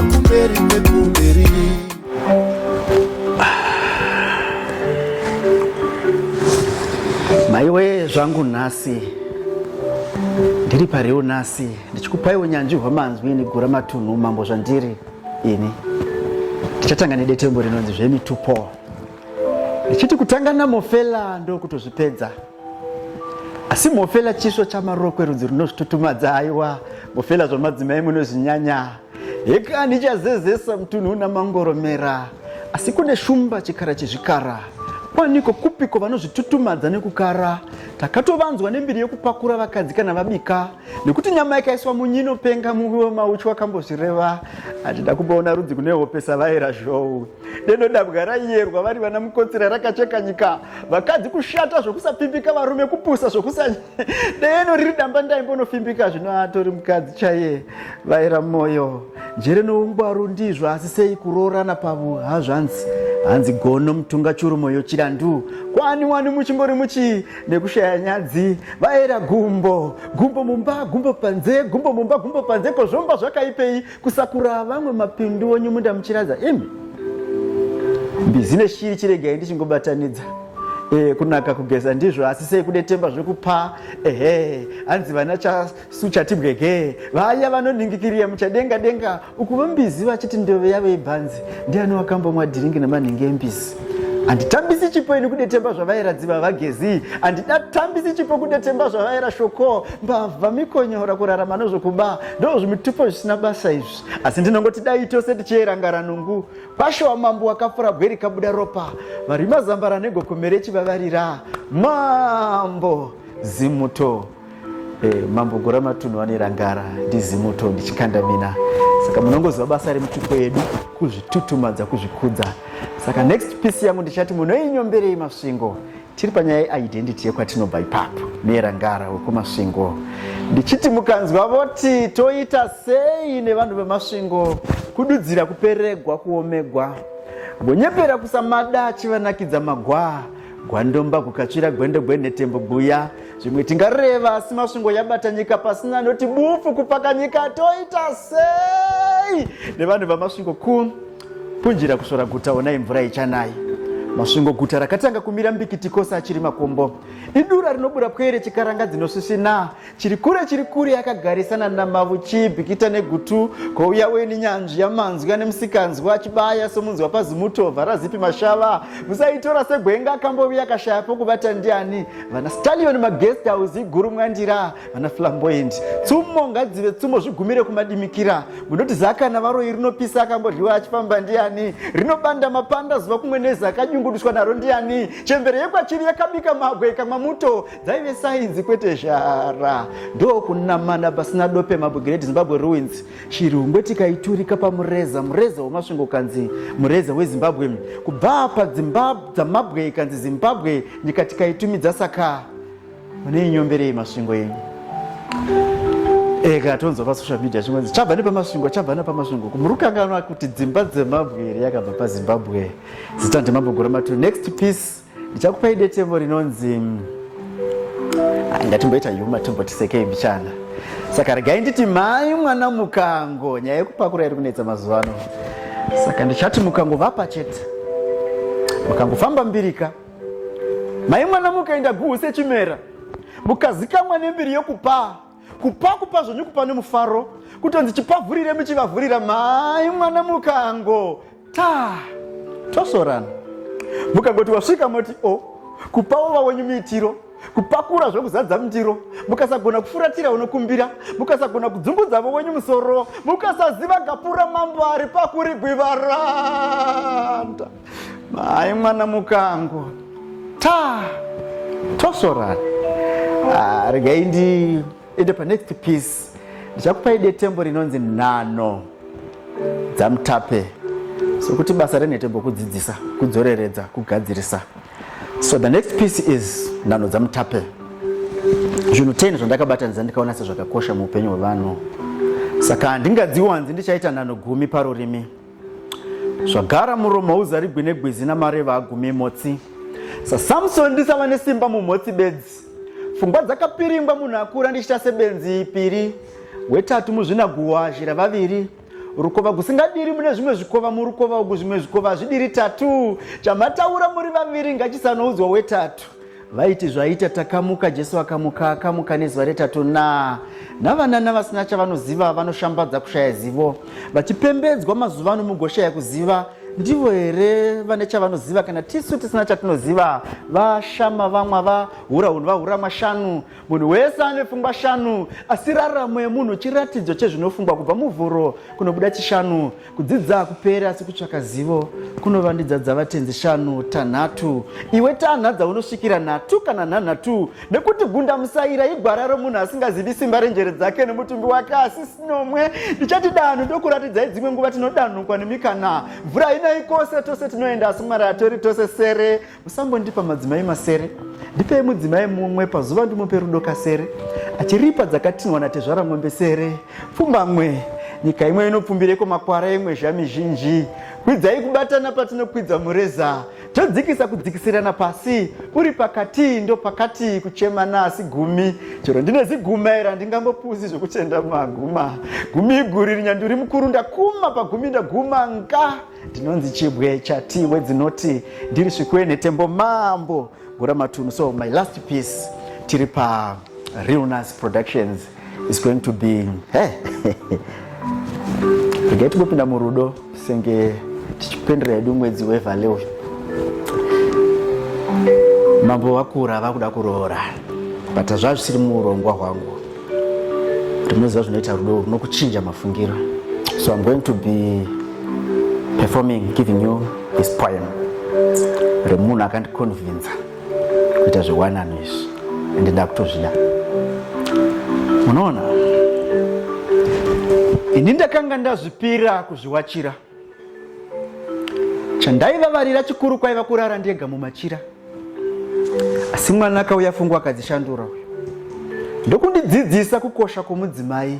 kumberi nekumberi maiwe zvangu nhasi ndiri pariwo nhasi ndichikupai unyanzvi hwamanzwi nigura matunhu mambo zvandiri ini ndichatanga nedetembo rinonzi zvemitupo ndichiti kutanga namofela ndokutozvipedza asi mofela chisvo chamarokwe rudzi runozvitutumadza aiwa mofela zvamadzimai munozvinyanya Heka ndichazezesa mutunhu una mangoromera asi kune shumba chikara chezvikara kwaniko kupiko vanozvitutumadza nekukara takatovanzwa nembiri yekupakura vakadzi kana vabika nekuti nyama yakaiswa munyu inopenga muvi wemauchu wakambozvireva hatida kumboona rudzi kune hope savaera zhou deno dabwa raiyerwa vari vana mukotsira rakacheka nyika vakadzi kushata zvokusapfimbika varume kupusa zvokusa deno riri damba ndaimbonofimbika zvino atori mukadzi chaiye vaira moyo njere noungwaru ndizvo asi sei kuroorana pavo hazvanzi hanzi gono mutunga churu moyo chirandu kwani wani muchingori muchii nekushaya nyadzi vaera gumbo gumbo mumba gumbo panze gumbo mumba gumbo panze kozvomba zvakaipei kusakura vamwe mapindu onyu munda muchiradza imi mbizi neshiri chiregai ndichingobatanidza e, kunaka kugeza ndizvo asi sei kudetemba zvekupa ehe hanzi vana chasu chatibwege vaya vanoningikirira muchadenga denga uku vambizi vachiti ndove yavo ibhanzi ndiani wakambomwa dhiringi nemanhingi embizi handitambisi chipo ini kudetemba zvavaera dziva vagezi handidatambisi chipo kudetemba zvavaera shoko mbavha mikonyora kurarama nozvokuba ndo zvimitupo zvisina basa izvi asi ndinongoti dai tose tichierangara nungu pasho wamambo wakapfura bwe rikabuda ropa vari mazambara negokomere chivavarira mambo zimuto eh, mambo gora matunhu vanerangara ndizimuto ndichikanda mina saka munongoziva basa remutupo yedu kuzvitutumadza kuzvikudza saka next piece yangu ndichati munoinyomberei masvingo Tiri panyaya yeidentity yekwatinobva ipapo neyerangara wekumasvingo ndichiti mukanzwa voti toita sei nevanhu vemasvingo kududzira kuperegwa kuomegwa gonyepera kusamada achivanakidza magwaa gwandomba kukatsvira gwendo gwenhetembo guya zvimwe tingareva asi masvingo yabata nyika pasina anoti bufu kupaka nyika toita sei nevanhu vamasvingo ku Punjira kusvora guta onai mvura ichanai. Masvingo guta rakatanga kumira mbikiti kose achiri makombo. Idura rinobura pwere chikaranga dzinosvisvina. Chiri kure chiri kure akagarisana namavu chibikita negutu kouya weni nyanzvi yamanzwi ane musikanzwa achibaya somunzwa pazimuto varazipi mashava. Musaitora segwenga akamboviya akashaya pokubata ndiani. Vana Stallion maguest house iguru mwandira. vana flamboyant tsumo ngadzive tsumo zvigumire kumadimikira munoti zaka navaroyi rinopisa akambodyiwa achifamba ndiani rinobanda mapanda zuva kumwe nezi akanyungudiswa naro ndiani chembere yekwachiri yakabika magwe ikamwa muto dzaive sainzi kwete zhara ndokunamana pasina dope mabwe great zimbabwe ruins chirungwe tikaiturika pamureza mureza wemasvingo kanzi mureza wezimbabwe kubva padzimba dzamabwe ikanzi zimbabwe nyika tikaitumidza saka Mune inyomberei masvingo yenyu? Eka eh, tonzwa pasocial media chimwenzi chabva nepamasvingo chabva nepamasvingo kumurukanganwa kuti dzimba dzemabwe here yakabva pazimbabwe zita ndemambo gora matu next piece ndichakupai detembo rinonzi mm, ah, ngatimboita yuma timbotisekei mbichana saka regai nditi mhai mwana mukango nyaya yekupakura iri kunetsa mazuva ano saka ndichati mukango vapa chete mukangofamba mbirika Mai mwana mukaenda guhu sechimera mukazikamwa nembiri yokupaa kupa kupa zvenyu kupa nomufaro kutonzi chipavhurire muchivavhurira mai mwana mukango ta tosorana mukangoti wasvika moti o oh, kupawo vawenyu miitiro kupakura zvekuzadza mundiro mukasagona kufuratira unokumbira mukasagona kudzungudza vowenyu musoro mukasaziva gapura mambo ari pakurigwivaranda Mai mwana mukango ta tosorana ah, regai ndiende panext piece ndichakupai detembo rinonzi nhano dzamutape sokuti basa renhetembo kudzidzisa kudzoreredza kugadzirisa so the next piece is nhano dzamutape zvinhu 10 zvandakabatanidza ndikaona sezvakakosha muupenyu hwevanhu saka handingadziwanzi ndichaita nhano gumi parurimi zvagara muromo hauzarigwi negwizi namareva agume motsi sasamson ndisava nesimba mumotsi bedzi pfungwa dzakapiringwa munhu akura ndichita sebenzi piri wetatu muzvinaguhwa zhira vaviri rukova kusingadiri mune zvimwe zvikova murukova uku zvimwe zvikova hazvidiri tatu chamataura muri vaviri ngachisanoudzwa wetatu vaiti zvaita takamuka jesu akamuka akamuka nezuva retatu na navanana vasina chavanoziva vanoshambadza kushaya zivo vachipembedzwa mazuva ano mugoshaya kuziva ndivo here vane chavanoziva kana tisu tisina chatinoziva vashama vamwa vahura hunhu vahura mashanu munhu wese ane pfungwa shanu asi raramo yemunhu chiratidzo chezvinofungwa kubva muvhuro kunobuda chishanu Kudzidza kupera asi kutsvaka zivo kunovandidza dzavatenzi shanu tanhatu iwe tanha dzaunosvikira nhatu kana nhanhatu nekuti gunda musaira igwara romunhu asingazivi simba renjere dzake nemutumbi wake asi sinomwe ndichati danhu ndokuratidzai dzimwe nguva tinodanhukwa nemikana mvura inai kose tose tinoenda asi mwari atori tose sere Usangondipa madzimai masere, ndipei mudzimai mumwe pazuva ndimupe rudo kasere, achiripa dzakatinhwa natezvara mombe sere, pfumbamwe nyika imwe inopfumbireko makwara imwe zvamizhinji kwidzai kubatana patinokwidza mureza todzikisa kudzikisirana pasi uri pakati ndopakati kuchemana asi gumi chero ndine ziguma ira ndingambopuzi zvekuchenda maguma gumi iguri rinyanduri mukuru ndakuma pagumi ndaguma nga ndinonzi chibwe chati wedzinoti ndiri svikwene tembo mambo gura matunhu so my last piece tiri pa realness productions is going to be hey. regai tingopinda murudo senge tichipendera yedu mwedzi wevale uyu mambo vakura vakuda kuroora but zvazvisiri muurongwa hwangu Rimwe zuva zvinoita rudo runokuchinja mafungiro. So I'm going to be performing giving you this poem remunhu akandikonvinza kuita zvewanano izvi ende ndakutozvida munoona ini ndakanga ndazvipira kuzviwachira Chandaivavarira chikuru kwaiva kurara ndega mumachira. Asi mwana akauya fungu akadzishandura uyo. Ndokundidzidzisa kukosha kwomudzimai.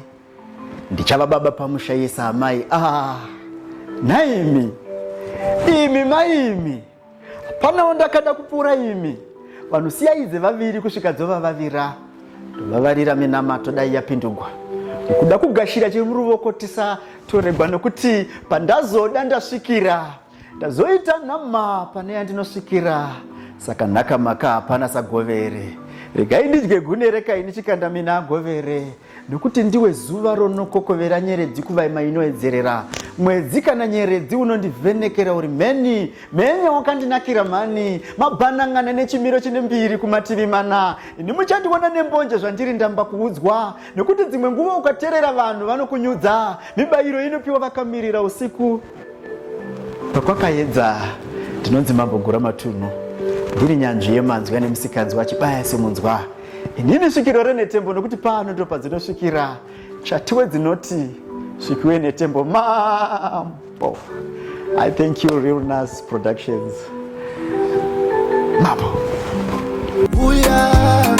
Ndichava baba pamusha yesa amai. Ah, naimi. Imi maimi. Hapana wandakada kupfuura imi. Vanhu siyai dzevaviri kusvika dzovavavira. Ndovavarira minamato dai yapindugwa. Kuda kugashira chiri muruvoko tisa toregwa nokuti pandazoda ndasvikira. Ndazoita nhama pane yandinosvikira. Saka nhaka maka hapana sagovere. Regai ndidye gune rekaini chikanda mina agovere. Nokuti ndiwe zuva ronokokovera nyeredzi kuvaima inoedzerera mwedzi kana nyeredzi unondivhenekera uri mheni mhenya wakandinakira mhani mabhanangana nechimiro chine mbiri kumativi mana ini muchandiona nembonje zvandiri ndamba kuudzwa nokuti dzimwe nguva ukaterera vanhu vanokunyudza mibayiro inopiwa vakamirira usiku Pakwakaedza ndinonzi Mambo Gura Matunhu, ndiri nyanzvi yemanzwi ane musikanzwa achibaya semunzwa. Inini svikiro renetembo nokuti pano ndopa dzinosvikira chatiwe dzinoti svikiwe netembo mambo. I thank you Real Nas Productions. Mambo. Booyah.